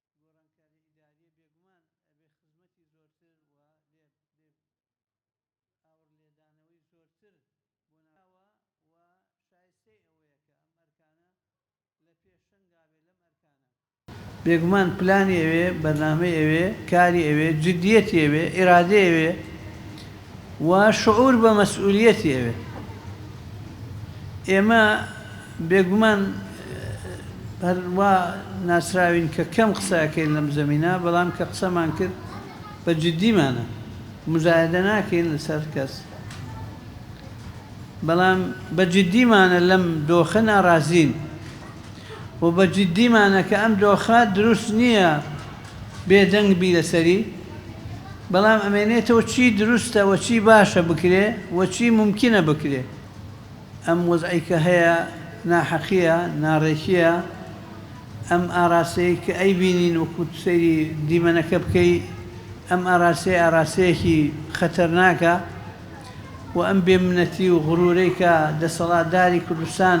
ئەم گۆڕانکاری ئیداریە بێگومان ئەبێ خزمەتی زۆرتر و لێ بێ ئاوڕ لێدانەوەی زۆرتر بۆ ناوە و شایستەی ئەوەیە کە ئەم ئەرکانە لە پێشەنگا بێ لەم ئەرکانە. بێگومان پلانی ئەوێ، بەرنامەی ئەوێ، کاری ئەوێ، جدیەتی ئەوێ، ئیرادەی ئەوێ. و شعور بە مەسئولیەتی ئەوێت. ئێمە بێگومان هەر وا ناسراوین کە کەم قسە ئەکەین لەم زەمینە، بەڵام کە قسەمان کرد بە جدیمانە. موزایەدە ناکەین لەسەر کەس، بەڵام بە جدیمانە لەم دۆخە ناڕازین. و بە جدیمانە کە ئەم دۆخە دروست نییە بێدەنگ بی لەسەری، بەڵام ئەمێنێتەوە چی دروستە و چی باشە بکرێ و چی مومکینە بکرێ. ئەم وەزعەی کە هەیە ناحەقییە، ناڕێکییە، ئەم ئاراستەی کە ئەیبینین وەکو سەیری دیمەنەکە بکەی ئەم ئاراستەی ئاراستەیەکی خەتەرناکە و ئەم بێمنەتی و غرورەی کە دەسەڵاتداری کوردستان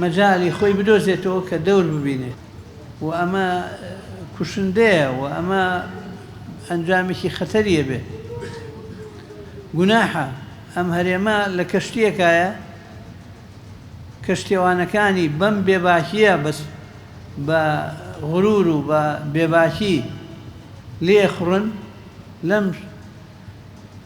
مەجالی خۆی بدۆزێتەوە کە دەور ببینێت و ئەمە کوشندەیە و ئەمە ئەنجامێکی خەتەریە بێت گوناحە ئەم هەرێمە لە کەشتیەکایە کەشتێوانەکانی بەم بێباکیە بەس بە غرور و بە بێباکی لێخڕن لەم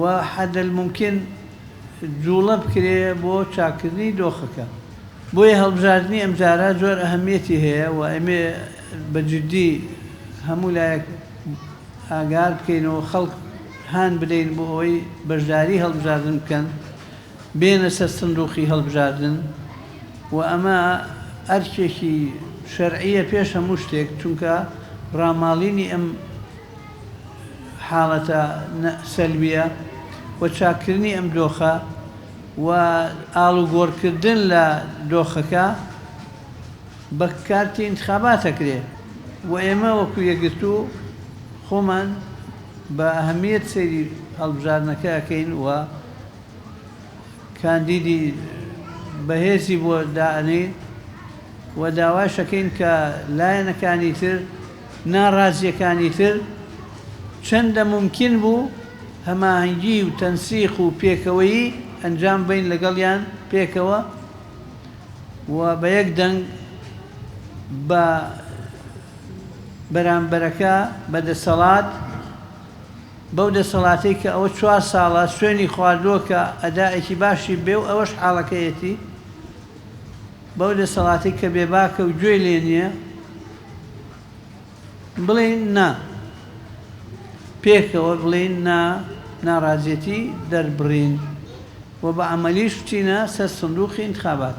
و حد الممکن جوڵە بکرێ بۆ چاککردنی دۆخەکە. بۆیە هەڵبژاردنی ئەمجارە زۆر ئەهەمیەتی هەیە و ئەمێ بە جدی هەموو لایەک ئاگار بکەین و خەڵک هان بدەین بۆ ئەوەی بەشداری هەڵبژاردن بکەن، بێنە سەر سندوقی هەڵبژاردن و ئەمە ئەرکێکی شەرعیە پێش هەموو شتێک چونکە ڕاماڵینی ئەم. حاڵەتە سەلبیە و چاککردنی ئەم دۆخە و ئاڵوگۆڕکردن لە دۆخەکە بە کارتی ئینتخابات ئەکرێ و ئێمە وەکو یەکگرتوو خۆمان بە ئەهەمیەت سەیری هەڵبژاردنەکە ئەکەین و کاندیدی بەهێزی بۆ دائەنێین و داواشەکەین کە لایەنەکانی تر ناڕازییەکانی تر، چەندە مومکین بوو هەماهەنگی و تەنسیق و پێکەوەیی ئەنجام بەین لەگەڵیان پێکەوە و بە یەک دەنگ بە بەرامبەرەکە بە دەسەڵات، بەو دەسەڵاتەی کە ئەوە چوار ساڵە سوێنی خواردووە کە ئەدائێکی باشی بێ و ئەوەش حاڵەکەیەتی. بەو دەسەڵاتەی کە بێباکە و گوێی لێ نییە بڵێین نا، پێکەوە بڵێین نا، ناڕازیەتی دەربڕین و بە عەمەلیش بچینە سەر سندووقی ئینتخابات.